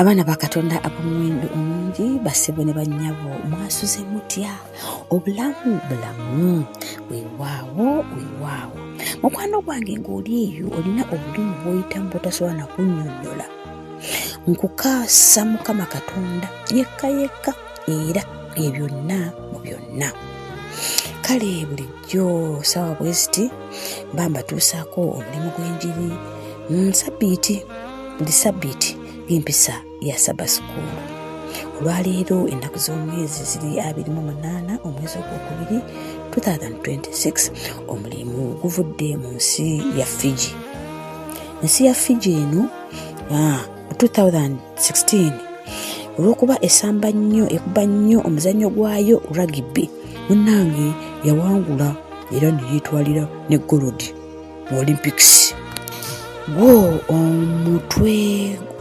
abaana ba katonda ab'omuwendo omungi basebo ne bannyabo mwasuze mutya obulamu bulamu wewaawo wewaawo mukwano gwange ng'oli eyo olina obulimu bwoyitamu bwotasobola nakunnyonnyola nkukaasa mukama katonda yekka yekka era bye byonna mu byonna kale bulijjo sawa bweziti mba mbatuusaako omulimu gw'enjiri nsabiiti buli sabiiti ng'empisa ya saba sukuulu olwaleero ennaku z'omwezi ziri abiri mu munaana omwezi ogwokubiri 2026 omulimu guvudde mu nsi ya fiji ensi ya fiji eno ah, 2016 olwokuba esamba nnyo ekuba nnyo omuzannyo gwayo rugby munnange yawangula era neyetwalira ne golodi mu olympics gwo omutwe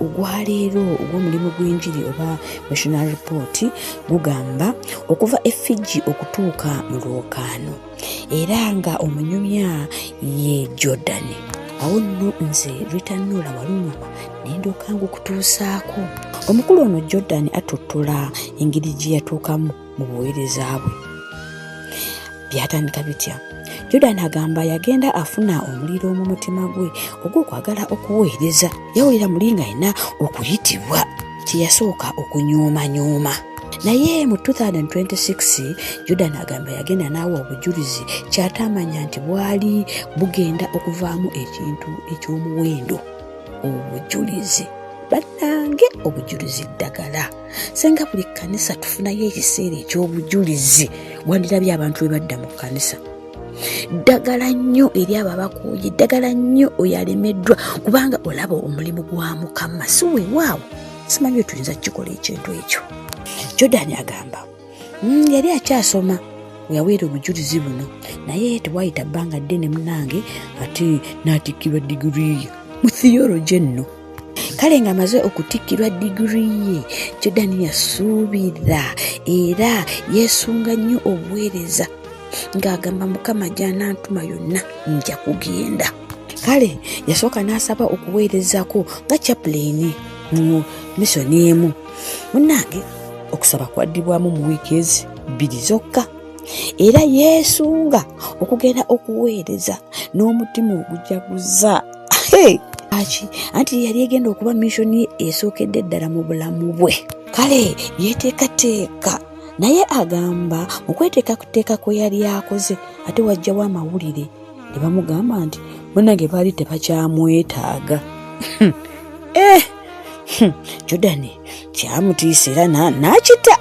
ogwaleero ogw'omulimu gw'enjiri oba national report gugamba okuva efiji okutuuka mu lwokaano era nga omunyumya ye jordan awo nno nze ritanoola walungama nendoka nga okutuusaako omukulu ono jordan atutula engeri gye yatuukamu mu buweereza bwe byatandika bitya jordan agamba yagenda afuna omuliro mu mutima gwe ogw'okwagala okuweereza yawulira muli nga alina okuyitibwa teyasooka okunyoomanyuuma naye mu 2026 yuda nagamba yagenda naawa obujulizi kyataamanya nti bwali bugenda okuvaamu ekintu eky'omuwendo obujulizi bannange obujulizi ddagala senga buli kkanisa tufunayo ekiseera eky'obujulizi wandirabye abantu bwe badda mu kkanisa ddagala nnyo eri abo abakuuye ddagala nnyo oyo alemeddwa kubanga olaba omulimu gwa mukama si wewaawo simanyi wetuyinza kukikola ekintu ekyo jordan agamba mm, yali akyasoma weyaweera obujulizi buno naye tewayita bbanga ddene munange ate n'atikkirwa digiriiyo mu theology enno kale nga amaze okutikkirwa digiri ye jordan yasuubira era yeesunga nnyo obuweereza ng'agamba mukama gy'anaantuma yonna nja kugenda kale yasooka n'asaba okuweerezako nga chapuleeni mu misoni emu munnange okusaba kwaddibwamu mu wiiki ezi bbiri zokka era yeesunga okugenda okuweereza n'omutima ogujaguza aki anti yeyali egenda okuba missioni esookedde eddala mu bulamu bwe kale yeteekateeka naye agamba mu kweteekateeka kwe yali akoze ate wajjawo amawulire ne bamugamba nti banange baali tebakyamwetaaga eh! Hmm, jordani kyamutiisa era n'akita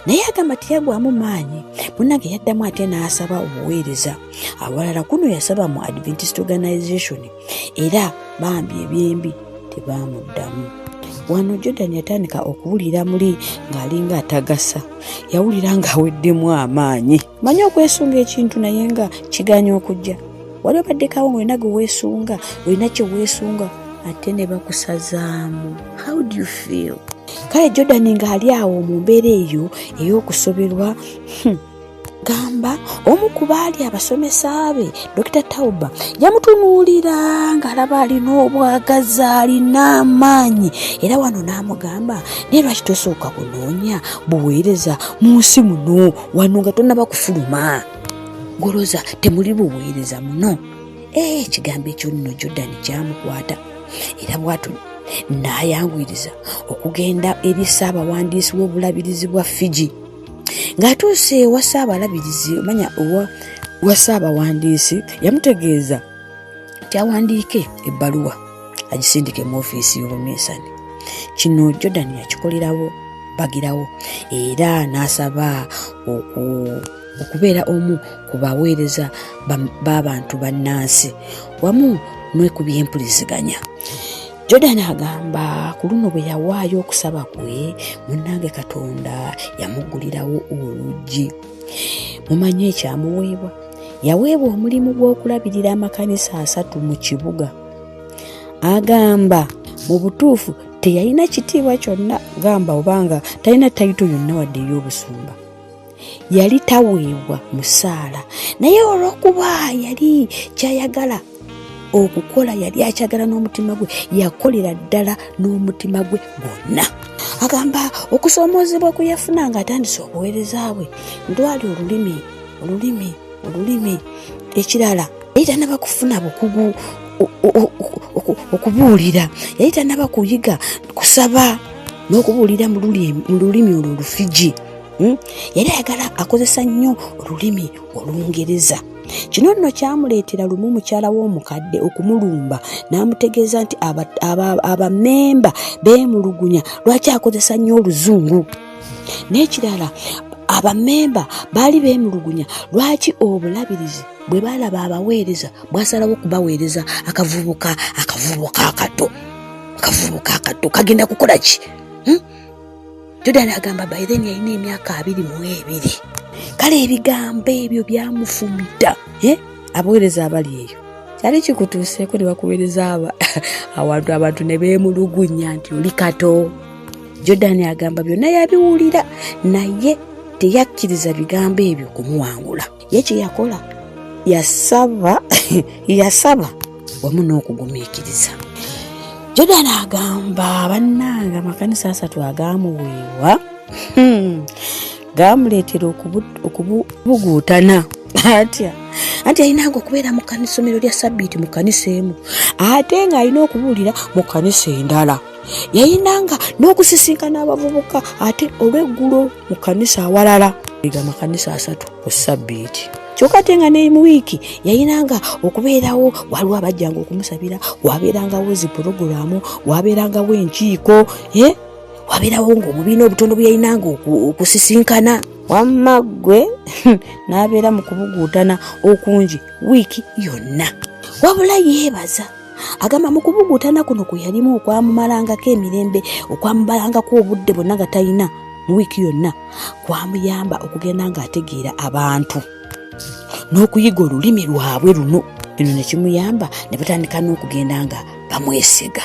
naye agamba teyagwamu maanyi munange yaddamu ate n'asaba obuweereza awalala kuno yasaba mu adventist organization era bambi ebyembi tebaamuddamu wano jordan yatandika okuwulira muli ng'alinga atagasa yawulira ng'aweddemu amaanyi manyi okwesunga ekintu naye nga kiganya okujja wali obaddekawo nga olina ge weesunga olina kye weesunga ate ne bakusazaamu how do you feel kale jordan ng'ali awo mu mbeera eyo ey'okusoberwa hmm. agamba omu ku baali abasomesa be dokita tauba yamutunuulira ng'alaba alina obwagazi alina amaanyi era wano n'amugamba naye lwaki tosooka kunoonya buweereza mu nsi muno wano nga tonaba kufuluma goloza temuli buweereza muno ee eh, ekigambo ekyo nno jordani kyamukwata era bwatu n'ayanguyiriza okugenda eri ssaabawandiisi w'obulabirizi bwa fiji ng'atuuse ewa ssaabalabirizi omanya owa wa ssaabawandiisi yamutegeeza nti awandiike ebbaluwa agisindike mu ofiisi y'obuminsani kino jordan yakikolerawo bagirawo era n'asaba oku okubeera omu ku baweereza b'abantu bannansi wamu n'okubyempuliziganya Jordan agamba ku luno bwe yawaayo okusaba kwe munnange Katonda yamuggulirawo oluggi mumanyi ekyamuweebwa yaweebwa omulimu gw'okulabirira amakanisa asatu mu kibuga agamba mu butuufu teyalina kitiibwa kyonna gamba obanga talina tayito yonna wadde ey'obusumba yali taweebwa musaala naye olw'okuba yali kyayagala okukola yali akyagala n'omutima gwe yakolera ddala n'omutima gwe gwonna agamba okusoomoozebwa kwe yafuna ng'atandise obuweereza bwe ndwali olulimi olulimi olulimi ekirala yali tanaba kufuna bukugu okubuulira yali tanaba kuyiga kusaba n'okubuulira mu lulimi olwo olufiji hmm? yali ayagala akozesa nnyo olulimi olungereza kino nno kyamuleetera lumu mukyala w'omukadde okumulumba n'amutegeeza nti abamemba beemulugunya lwaki akozesa nnyo oluzungu n'ekirala abamemba baali beemulugunya lwaki obulabirizi bwe baalaba abaweereza bwasalawo okubaweereza akavubuka akavubuka akato akavubuka akato kagenda kukola ki hmm? Jordan agamba by then yalina emyaka abiri mu ebiri kale ebigambo ebyo byamufumita eh? abaweereza abali eyo kyali kikutuuseeko ne bakuweereza awantu abantu ne beemulugunya nti oli kato jordan agamba byonna yabiwulira naye teyakkiriza bigambo ebyo kumuwangula ye kye yakola yasaba yasaba wamu n'okugumiikiriza jordan agamba bannanga amakanisa asatu agaamuweebwa hmm. gaamuleetera okubuguutana atya anti alinanga okubeera mu kanisomero lya sabbiiti mu kanisa emu ate ng'alina okubuulira mu kanisa endala yalinanga n'okusisinkana abavubuka ate olweggulo mu kanisa awalala ega makanisa asatu ku sabbiiti kyokka ate nga ne mu wiiki yayinanga okubeerawo waliwo abajjanga okumusabira wabeerangawo zi pulogulaamu wabeerangawo enkiiko e wabeerawo ngaobubiina obutono bwe yayinanga okusisinkana wamma ggwe n'abeera mu kubuguutana okungi wiiki yonna wabula yeebaza agamba mu kubugutana kuno kwe yalimu okwamumalangako emirembe okwamubalangako obudde bonna nga talina mu wiiki yonna kwamuyamba okugenda ng'ategeera abantu n'okuyiga olulimi lwabwe luno eno ne kimuyamba ne batandika n'okugenda nga bamwesiga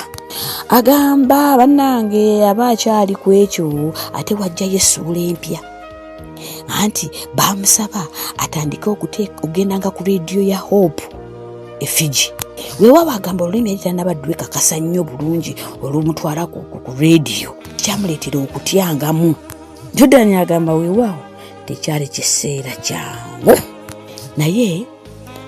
agamba bannange aba akyali ku ekyo ate wajjayo essuula empya anti baamusaba atandike okugendanga ku rediyo ya hope e fiji wewa bagamba olulimi yali tanaba dwekakasa nnyo bulungi olumutwala ku rediyo kyamuleetera okutyangamu jordan agamba weewaawo tekyali kiseera kyangu naye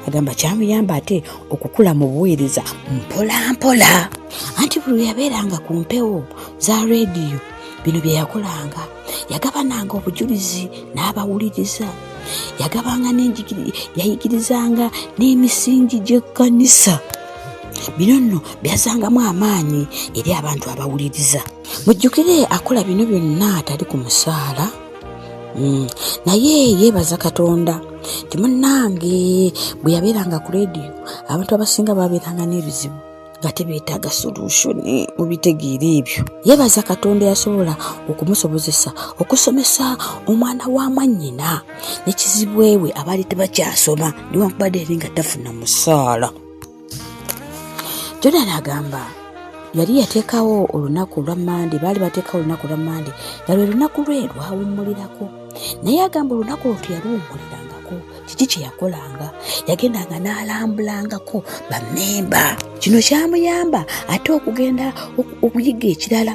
agamba kyamuyamba ate okukula mu buweereza mpolampola anti buli yabeeranga ku mpewo za rediyo bino bye yakolanga yagabananga obujulizi n'abawuliriza yagabanga yayigirizanga n'emisingi gy'ekkanisa bino nno byazangamu amaanyi eri abantu abawuliriza mujjukire akola bino byonna atali ku musaala hmm, naye yeebaza katonda timunange bwe yabeeranga ku leediyo abantu abasinga baabeeranga n'ebizibu nga tebeetaaga solushoni mu bitegeera ebyo yeebaza katonda yasobola okumusobozesa okusomesa omwana wa mwannyina ne kizibwewe abaali tebakyasoma newankubadde yali nga tafuna musaala jordan agamba yali yateekawo olunaku lwa mande baali bateekawo olunaku lwa mande nga lwe lunaku lwe lwawummulirako naye agamba olunaku olwo teyaluwummulirangako kiki kye yakolanga yagendanga n'alambulangako bamemba kino kyamuyamba ate okugenda okuyiga ekirala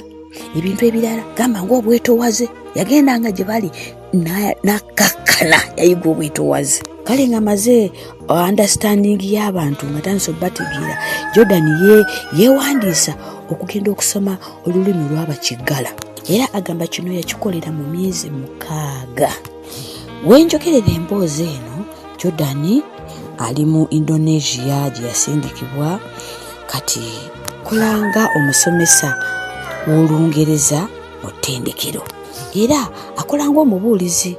ebintu ebirala gamba ngaobwetowaze yagendanga gye bali nakakkana yayiga obwetowaze kale nga maze uh, understanding y'abantu nga tandisa obategeera jordan yewandiisa okugenda okusoma olulimi olwabakiggala era agamba kino yakikolera mu myezi mukaaga wenjogerera emboozi eno jordan ali mu indonesia gye yasindikibwa kati kolanga omusomesa w'olungereza mu ttendekero era akola ngaomubuulizi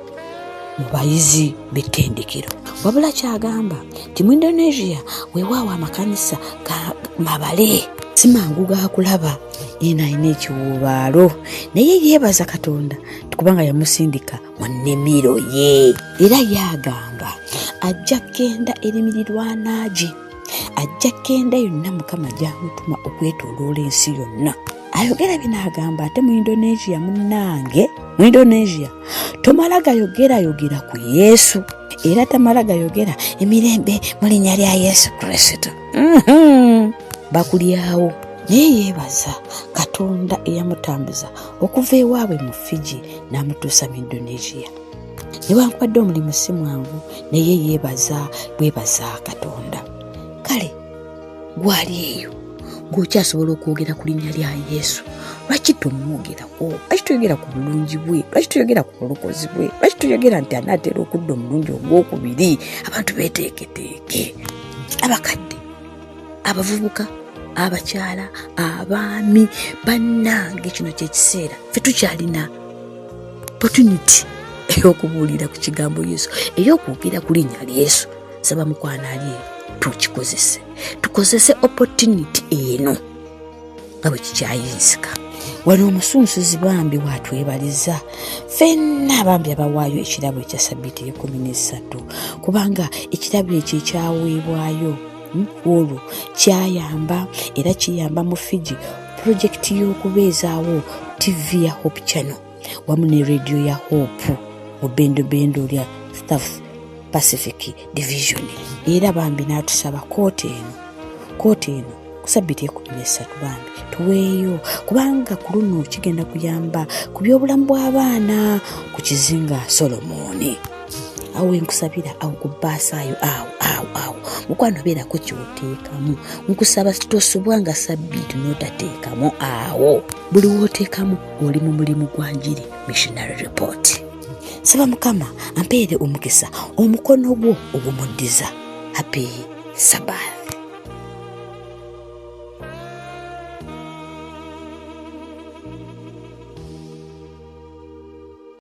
mu bayizi b'ettendekero wabula kyagamba nti mu indonesia wewaawo amakanisa ga mabale simangu gakulaba eno alina ekiwuubaalo naye yeebaza katonda kubanga yamusindika mu nnimiro ye era yagamba ajja kgenda erimirirwanaagi ajja kgenda yonna mukama gyamutuma okwetoloola ensi yonna ayogera bino agamba ate mu indonesia munnange mu indonesia tomala gayogerayogera ku yesu era tamala gayogera emirembe mu linnya lya yesu kristo mhm. bakulyawo naye yeebaza katonda eyamutambuza okuva ewaabwe mu fiji n'amutuusa mu indonesia newankubadde omulimu si mwangu naye yeebaza bwebaza katonda kale gwali eyo ng'okyasobola okwogera ku linnya lya yesu lwaki tomwogerako lwaki toyogera ku bulungi bwe lwaki toyogera ku bulokozi bwe lwaki toyogera nti anaatera okudda omulundi ogw'okubiri abantu beeteeketeeke abakadde abavubuka abakyala abaami bannange kino kyekiseera fe tukyalina opportunity eyokubuulira ku kigambo yesu eyokwogera ku linnya lya yesu saba mukwana ali tukikozese tukozese opportunity eno nga bwe kikyayinzika wali omusunsuzi bambi watwebaliza fenna bambi abawaayo ekirabo ekya sabiiti ekumi n'esatu kubanga ekirabo ekyo ekyaweebwayo hmm, olwo kyayamba era kiyamba mu fiji pulojekiti y'okubeezaawo tivi ya hope channel wamu ne rediyo ya hope mu bendobendo lya south pacific division era bambi n'atusaba kooti eno kooti eno kusabiti ekumi nesatu bambi tuweeyo kubanga ku luno kigenda kuyamba ku byobulamu bw'abaana ku kizinga solomooni awo wenkusabira awo ku baasaayo awo awo awo mukwano beerako kyoteekamu nkusaba tosubwa nga sabbiiti notateekamu awo buli woteekamu oli mu mulimu gwa njiri missionary report saba mukama ampeere omukisa omukono gwo ogumuddiza happy sabbath